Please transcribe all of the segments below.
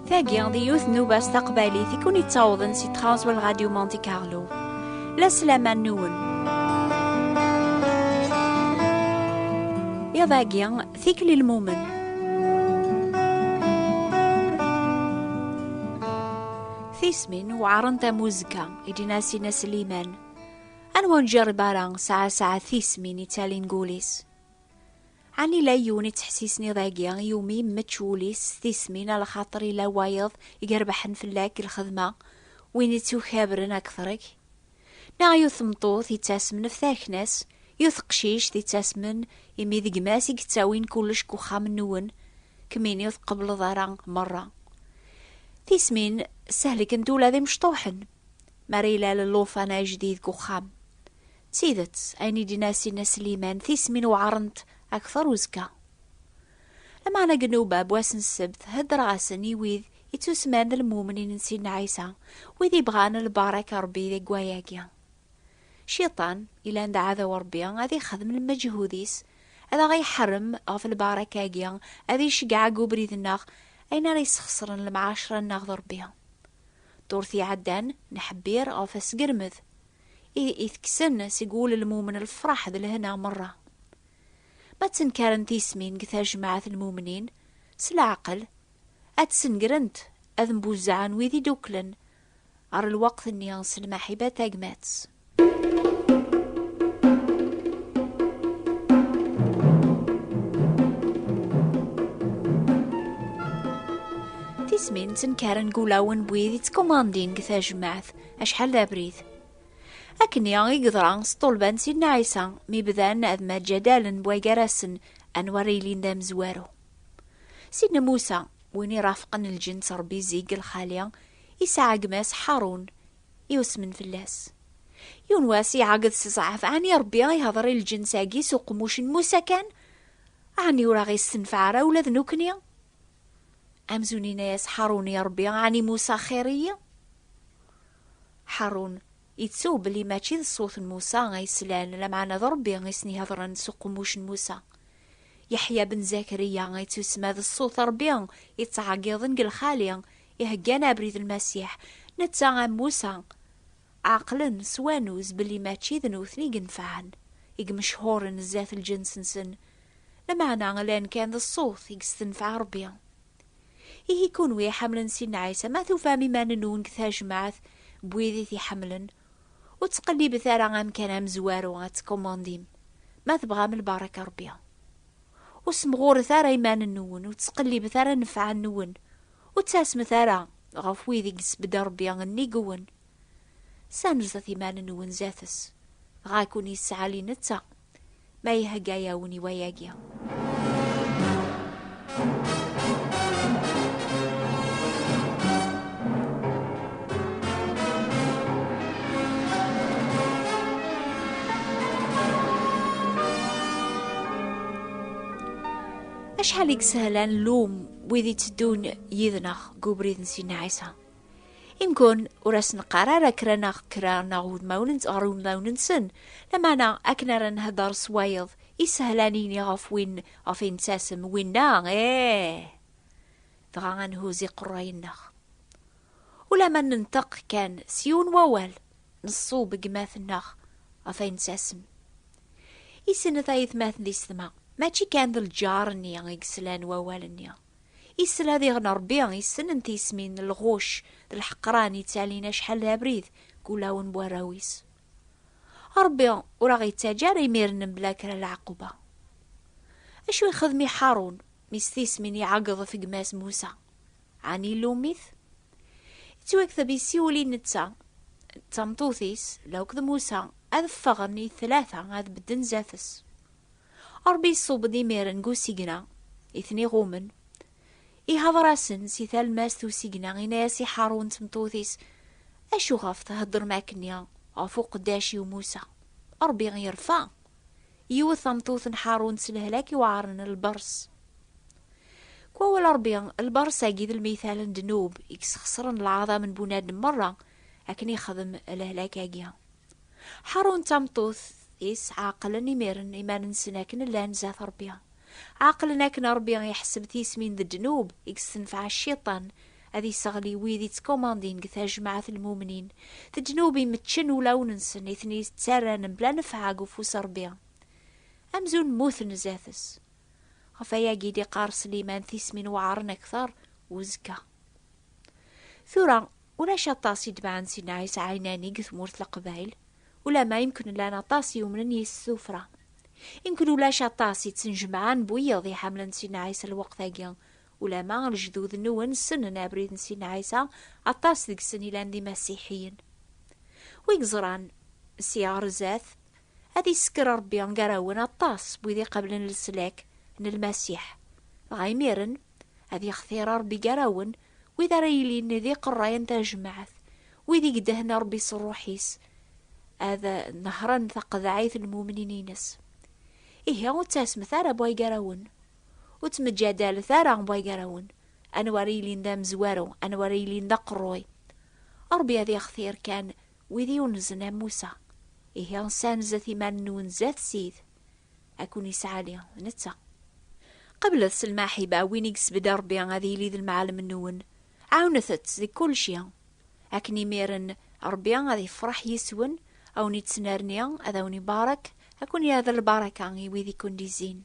Tagi, di yiwet n ubas taqbaylit i kun yettawḍen si Transwell Radio Monte Carlo. La sslam-a nwen. Iḍ-agi, tikli lmumen. Tismin weɛrent am uzekka. i d-nas i Nasliman, anwa ur njerreb ara saɛa saɛa tismin i ttalin gul-is? Ɛni la yiwen i ttḥessisen iḍ-agi i umi mmečč wul-is s tismin a lxaṭer i la wayeḍ i yerbeḥen fell-ak deg lxedma, win i tt-ukabren akteṛ-ik? Neɣ yiwet tmeṭṭut i ttasmen ɣef takna-s, Yiwet teqcict yettasmen imi d gma-s i yettawin kullec deg uxxam-nwen, kemmini ur tqebbleḍ ara merra. Tismin ssehlkent ula d imecṭuḥen mi ara ilal llufan ajdid deg uxxam. D tidet, ayen i d-yenna Sina Sliman, tismin weɛrent akteṛ uzekka. Lameɛna deg nnuba n wass n ssebt, heddreɣ-asen i wid yettusemman d lmumnin n Sidna Ɛisa, wid yebɣan lbaṛaka n Ṛebbi deg waya-agi. Cciṭan, ilan d aɛdaw n Ṛebbi, ad ixdem lmeǧhud-is, ad aɣ-iḥrem ɣef lbaṛaka-agi, ad iceggeɛ deg ubrid-nneɣ, ayen ara yessxeṣren lemɛaceṛa-nneɣ d Ṛebbi. Ddurt iɛeddan, neḥbir ɣef asgermed, i itekksen seg wul n lmumen lfeṛḥ d lehna meṛṛa. Ma ttenkaren tismin deg tajmaɛt n lmumnin, s leɛqel, ad d-ssengrent, ad mbuzzaɛen wid i d-uklen Ɣer lweqt-nni s lmaḥiba tagmat. ismin ttenkaren deg ulawen n wid yettkumandin deg tajmaɛt acḥal d abrid akkenni i yeḍra s ṭṭulba n sidna ɛisa mi bdan ad maǧǧadalen wagarasen anwa ara yilin d amezwaru Sidna Musa, win irafqen lǧenn s Ṛebbi zik deg lxali, isɛa gma-s Ḥarun, iwesmen fell-as. Yiwen wass, iɛeggeḍ s ẓɛaf, Ɛni Ṛebbi a ihdeṛ i lǧens-agi s uqemmuc n Musa kan? Ɛni ur aɣ-istenfeɛ ara ula d nekkni? Amzun inna-yas Ḥarun i Ṛebbi, Ɛni Musa xir-iyi? Ḥarun, Ittuw belli mačči d ṣṣut n Musa ay slan, lameɛna d Ṛebbi i sen-iheḍṛen s uqemmuc n Musa. Yeḥya ben Zakariya ittusemma d ṣṣut n Ṛebbi yettɛeggiḍen deg lxali, iheggan abrid n Lmasiḥ, netta am Musa. Ɛeqlen, s wanuz, belli mačči d nutni yenfɛen, i yemechhuṛen zdat lǧens-nsen, lameɛna llan kan d ṣṣut i yestenfeɛ Ṛebbi. Ihi kunwi iḥamlen Sidna Ɛisa, ma tufam iman-nwen deg tajmaɛt n wid i t-iḥemmlen, ur ttqellibet ara amkan amezwaru ad tkumandim, ma tebɣam lbaraka n Rebbi. Ur ssemɣuret ara iman-nwen, ur ttqellibet ara nnfeɛ-nwen, ur ttasmet ara ɣef wid i yesbedd Rebbi nnig-wen. Ssanzet iman-nwen zdat-s, dɣa ad ken-yesseɛli netta. ma ihegga-yawen i wayagi. Acḥal i yeshelen lum wid itteddun yid-neɣ deg ubrid n Sidna Ɛisa? Imgun, ur asen-qqar ara kra neɣ kra neɣ udmawen ɣer udmawen-nsen, lameɛna akken ara nhedder s wayeḍ isehel ad nini ɣef win ɣef ay nettasem, winna ih! Dɣa ad nhuz iqerray-nneɣ. Ulamma nenṭeq kan s yiwen n wawal, neṣṣub deg yemmat-nneɣ ɣef ay nettasem. Issin n tayetmaten di setma, mačči kan d lǧar-nni i yeslan wawal-nni. Isla diɣen Ṛebbi yessnen tismin n lɣucc d lḥeqran yettalin acḥal d abrid deg ulawen n warraw-is. Ṛebbi ur aɣ-yettaǧǧa ara imiren mebla kra n lɛeqquba. Acu ixdem i Ḥarun mi s tismin iɛeggeḍ ɣef gma-s Musa? Ɛni ilum-it? Yettwakteb yessiwel i netta d tameṭṭut-is, law d Musa, ad ffɣen i tlata ad bedden zdat-s. Ṛebbi iṣubb-d imiren deg usigna i ten-iɣummen. Ihdeṛ-asen si talmast n usigna, inna-yas i Ḥarun d tmeṭṭut-is, Acu ɣef theddṛem akkenni ɣef uqeddac-iw Musa? Ṛebbi irfa, iwet tameṭṭut n Ḥarun s lehlak iweɛṛen, lbeṛs. Deg wawal Ṛebbi, lbeṛs-agi d lmital n ddnub i yesxeṣṛen leɛḍam n bunadem meṛṛa akken ixdem lehlak-agi. Ḥarun d tameṭṭut-is ɛeqlen imiren iman-nsen akken llan zdat Ṛebbi. Ɛeqlen akken Ṛebbi iḥesseb tismin d ddnub i yessenfeɛ Cciṭan ad yesseɣli wid ittkumandin deg tajmaɛt n lmumnin, d ddnub imeččen ulawen-nsen i ten-yettarran mebla nnfeɛ deg ufus n Ṛebbi, amzun mmuten zdat-s. Ɣef wayagi i d-iqqar Sliman tismin weɛren akteṛ uzekka. Tura, Ulac aṭas i d-baɛen si Nna Ɛisa Ɛinani deg tmurt Leqbayel, ulamma imken llan aṭas yumnen yis-s tuffra. Imken ulac aṭas i ttnejmaɛen bu yiḍ iḥamlen si Nna Ɛisa lweqt-agi, ulamma lejdud-nwen ssnen abrid n si Nna Ɛisa, aṭas deg-sen ilan d imasiḥiyen. Wi yeẓran si ɣer zdat, ad isekker Rebbi gar-awen aṭas n wid iqablen leslak n Lmasiḥ, dɣa imiren, Ad yextir Ṛebbi gar-awen, wid ara yilin d iqerray n tajmaɛt, wid i idehhen Ṛebbi s Ṛṛuḥ-is, ad nehṛen taqeḍɛit n lmumnin-ines. Ihi ur ttasmet ara bwa gar-awen, ur ttmeǧǧadalet ara bwa gar-awen, anwa ara yilin d amezwaru, anwa ara yilin d aqerruy. Ṛebbi ad yextir kan wid yunzen am Musa. Ihi ssanzet iman-nwen zdat-s. Akun isɛali netta. Qablet s lmaḥiba win i yesbedda Rebbi ad yili d lmaɛlem-nwen. Ɛawnet-t deg kulci. Akken imiren Rebbi ad yefreḥ yis-wen, a wen-ittnerni, ad awen-ibarek, a ken-yerr d lbaraka i wid i ken-d-izzin.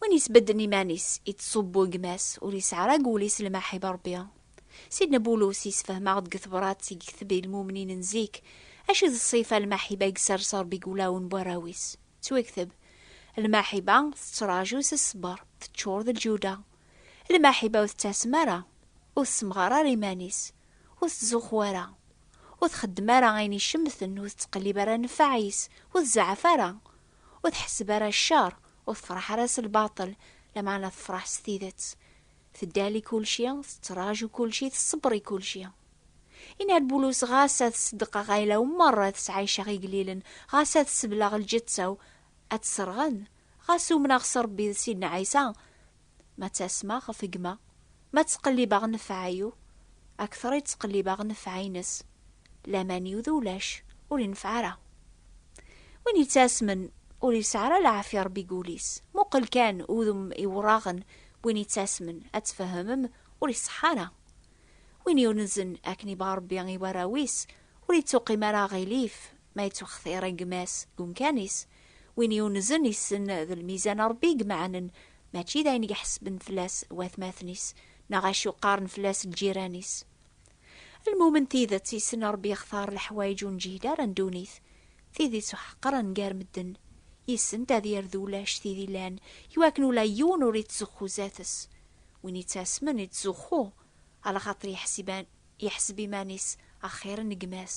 Win yesbedden iman-is, ittṣubbu i gma-s, ur yesɛrag wul-is lmaḥ i Rebbi. Sidna Bulus yessefhem-aɣ-d deg tebrat i gekteb i lmumnin n zik, acu d ṣṣifa n lmaḥiba i yessers Rebbi deg wulawen n warraw-is. Ttwakteb, Lmaḥiba tettraǧu s ṣṣber, teččur d lǧuda. Lmaḥiba ur tettasem ara, ur tessemɣar ara iman-is, ur tettzuxxu ara, ur txeddem ara ayen icemten, ur tettqellib ara nnfeɛ-is, ur tzeɛɛef ara, ur tḥesseb ara ccer, ur tefraḥ ara s lbaṭel, lameɛna tefraḥ s tidet. Teddal i kulci, tettraǧu kulci, tṣebber i kulci. Yenna-d Bulus, Ɣas ad ṣeddqeɣ ayla-w merra ad sɛiceɣ igellilen, ɣas ad sebleɣ lǧetta-w ad tt-sserɣen, ɣas umneɣ s Rebbi d Sidna Ɛisa, Ma ttasmeɣ ɣef gma, ma ttqellibeɣ nnfeɛ-iw, akteṛ i ttqellibeɣ nnfeɛ-ines. Laman-iw d ulac, ur ineffeɛ ara. Win yettasmen, ur yesɛi ara leɛfiya Ṛebbi deg wul-is. Muqel kan udem iwṛaɣen n win yettasmen, ad tfehhemem ur iṣeḥḥa ara. Win yunzen akken yebɣa Ṛebbi i warraw-is, ur yettuqim ara aɣilif ma yettwextiṛ gma-s deg umkan-is. Win yunzen yessen d lmizan n Ṛebbi i imeɛnen mačči d ayen iḥesben fell-as watmaten-is neɣ acu qqaren fell-as lǧiran-is. Lmumen tidet yessen Ṛebbi yextar leḥwayeǧ ur neǧhid ara n ddunit, tid ittuḥeqren gar medden, yessent ad yerdu ulac tid ilan i wakken ula yiwen ur ittzuxxu zdat-s, win ittasmen ittzuxxu, alaxaṭer yeḥseb iman-is axir n gma-s.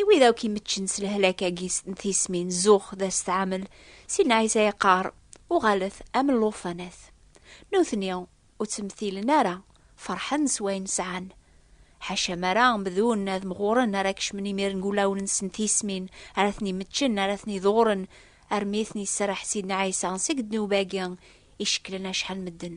I wid akk imeččen s lehlak-agi n tismin zux d astɛamel, Sidna Ɛisa yeqqar, uɣalet am llufanat. Nutni ur ttmetilen ara, ferḥen s wayen sɛan. Ḥaca mara bdun ad mɣuren ara kecmen imir n wulawen-nsen tismin, ara ten-imeččen, ara ten-iḍuren, armi i ten-iserreḥ Sidna Ɛisa seg ddnub-agi icekklen acḥal medden.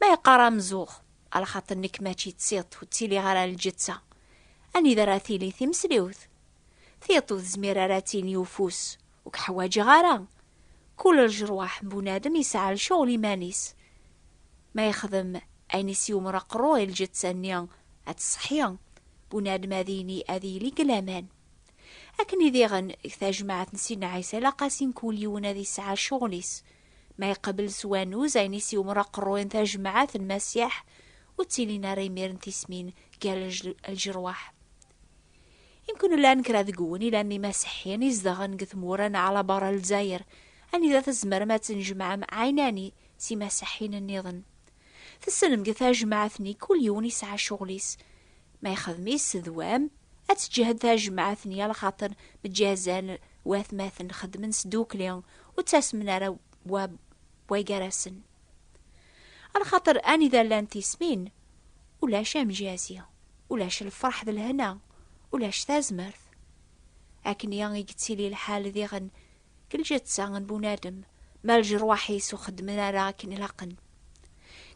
Ma yeqqar amzuɣ, ala xaṭi nekk mačči d tiṭ ur ttiliɣ ara lǧetta. Anida ara tili timesliwt? Tiṭ ur tezmir ara ad tili ufus, ur k-ḥwaǧeɣ ara. Kul ljerwaḥ n bunadem yesɛa lcuɣel iman-is. Ma yexdem ayen i s-yumr aqerru i lǧetta-nni ad tṣeḥḥi, bunadem ad yini ad yili deg laman. Akken i diɣen deg tajmaɛt n Sidna Ɛisa ilaq-asen kul yiwen ad yesɛa lcuɣel-is. Ma iqbel s wanuz ayen i s-yumr aqerru n tajmaɛt n Masiḥ, ur ttilin ara imir n tismin gar lǧerwaḥ. I nekni llan kra deg-wen ilan d imaseḥḥiyen izedɣen deg tmura n ɛla berra Lezzayer, anida tzemrem ad tnejmaɛem ɛinani s imaseḥḥiyen nniḍen. Tessnem deg tajmaɛt-nni kul yiwen yesɛa ccɣel-is, Ma yexdem-is d wam, ad teǧǧehed tajmaɛt n yal xaṭer meǧǧazan watmaten xedmen s dukli ur ttasmen ara wa wa gar-asen. Lxaṭer anida llan tismin, ulac amjazi, ulac lferḥ d lehna, ulac tazmert. Akken-i i yettili lḥal diɣen Deg lǧetta n bunadem, ma leǧrwaḥ-is ur xeddmen ara akken ilaqen.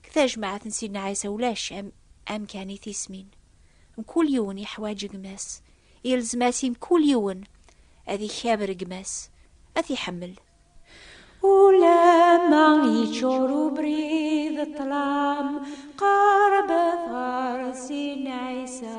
Deg tajmaɛt n Sidna Ɛisa ulac am amkan i tismin. Mkul yiwen yeḥwaǧ gma-s, yelzem-as i mkul yiwen ad ikaber gma-s, ad t-iḥemmel. Ulamma yeččur ubrid d ṭṭlam, qeṛṛbet ɣer Sidna Ɛisa,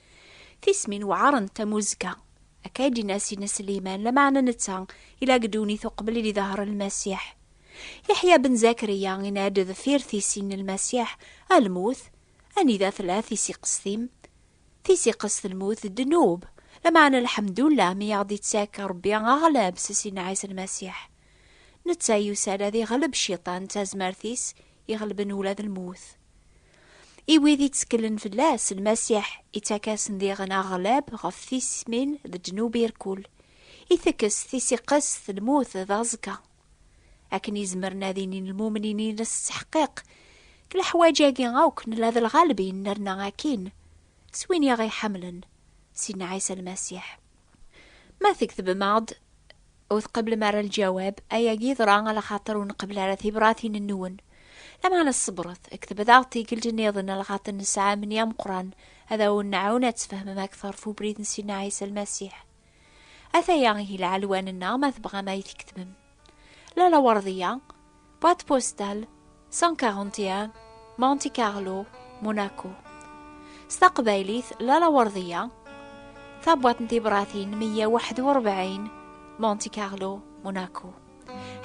Tismin weɛrent am uzekka. Akka i d-yenna Sidna Sliman, lameɛna netta ila deg ddunit uqbel i d-iḍher Lmasiḥ. Yeḥya ben Zakriya yenna-d deffir tissin n Lmasiḥ, A lmut, anida tella tisiqest-im? Tisiqest n lmut d ddnub, lameɛna lḥemdullah mi aɣ-d-ittak Rebbi aɣleb s Sidna Ɛisa Lmasiḥ. Netta yusa-d ad iɣleb Cciṭan d tazmert-is iɣelben ula d lmut. I wid itteklen fell-as, Lmasiḥ ittak-asen diɣen aɣlab ɣef tismin d ddnub irkul, itekkes tisiqest lmut d aẓekka. Akken i zemren ad inin lmumnin-ines s ḥqiq, deg leḥwaǧ-agi akk nella d lɣalbin nerna akkin, s win i ɣ-iḥemmlen, Sidna Ɛisa Lmasiḥ. Ma tgettbem-aɣ-d. Ur tqeblem ara lǧawab, ayagi yeḍra ala xaṭer ur nqebbel ara tibratin-nwen. Lameɛna ṣebret, deg tebdaɣt tikkelt niḍen ala xaṭer nesɛa amni ameqqran, ad awen-nɛawen ad tfehmem akteṛ ɣef ubrid n Sidna Ɛisa Lmasiḥ. Ataya ihi lɛelwan-nneɣ ma tebɣam ad iyi-tketbem. Lalla Werḍiya, Boîte postale 141 Monte Carlo, Monaco. S taqbaylit Lala Werdiya, tabwaṭ n tibratin 141 Monte Carlo, Monaco.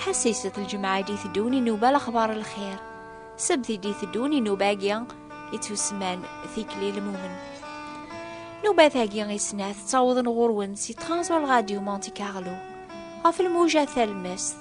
ḥassiset lǧemɛa i d-iteddun inuba lexbar lxir sebt i d-iteddun inuba-agi ittusemman tikli lmumen nubat-agi i snat ttawḍen ɣur-wen si Transworld Radio Monte Carlo ɣef lmuja talmest